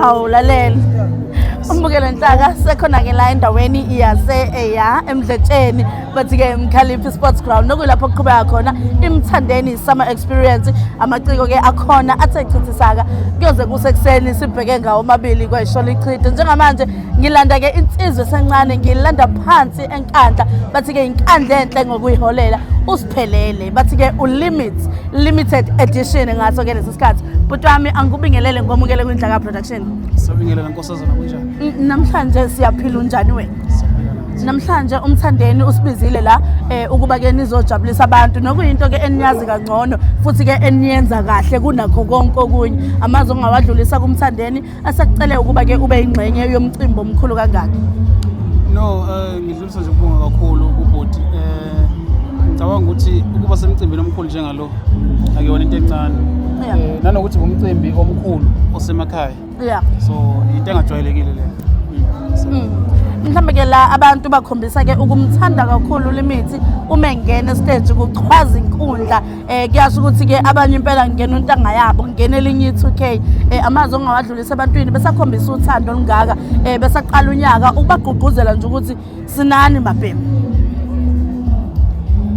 hawu lalela umbukele nhlaka sekhona-ke la endaweni yase-eya emdletsheni bathi-ke mkhaliphi sports ground nokuyilapho kuqhubeka khona imthandeni summer experience amaciko-ke akhona athe chithisaka kuyoze kusekuseni sibheke ngawo omabili kwayishola ichithe njengamanje ngilanda-ke insizwe esencane ngilanda phansi enkandla bathi-ke yinkandla enhle ngokuyiholela phelele bathi ke ulimit limited edition ngaso ke lesi sikhathi bhuti wami angikubingelele ngomukele kwindlaka production sabingelela nkosazana kunjani N- namhlanje siyaphila unjani wena namhlanje umthandeni usibizile la eh, ukuba ke nizojabulisa abantu nokuyinto ke eniyazi kangcono futhi ke eniyenza kahle kunakho konke okunye amazi ongawadlulisa kumthandeni Asakucele ukuba ke ube ingxenye yomcimbi omkhulu kangaka. No, uh, ngidlulisa nje ukubonga kakhulu kubhuti. Eh ngicabanga ukuthi ukuba semcimbini omkhulu njengalo akuyona into encane. Yeah. Eh, nanokuthi ngumcimbi omkhulu osemakhaya. Yeah. So into engajwayelekile leyo. Mm. mhlawumbe ke la abantu bakhombisa ke ukumthanda kakhulu limithi uma engena estage kuchwaza inkundla eh kuyasho ukuthi ke abanye impela ngingena untanga yabo ngingena elinye i2K eh amazwi ongawadlulisa ebantwini besakhombisa uthando olungaka eh besaqala unyaka ukubagqugquzela nje ukuthi sinani mabhemu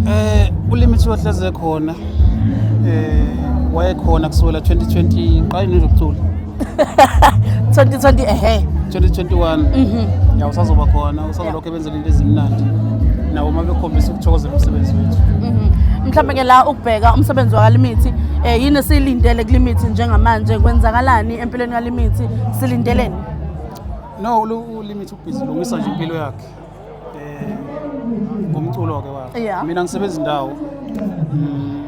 eh ulimi siwahleze khona eh wayekhona kusukela 2020 ngiqale nje ukucula 2020 ehe 2021 mhm yeah usazoba khona usazoba sebenzela into ezimnandi nabo uma bekhombisa ukuthokozela umsebenzi wethu mhm. mhlawumbe ke la ukubheka umsebenzi wakalimithi um eh, yini esiyilindele kulimithi njengamanje kwenzakalani empilweni kalimithi silindeleni no ulimithi ubhizi lungisa nje impilo yakhe um ngomculo-ke wakhe mina ngisebenza indawo mm,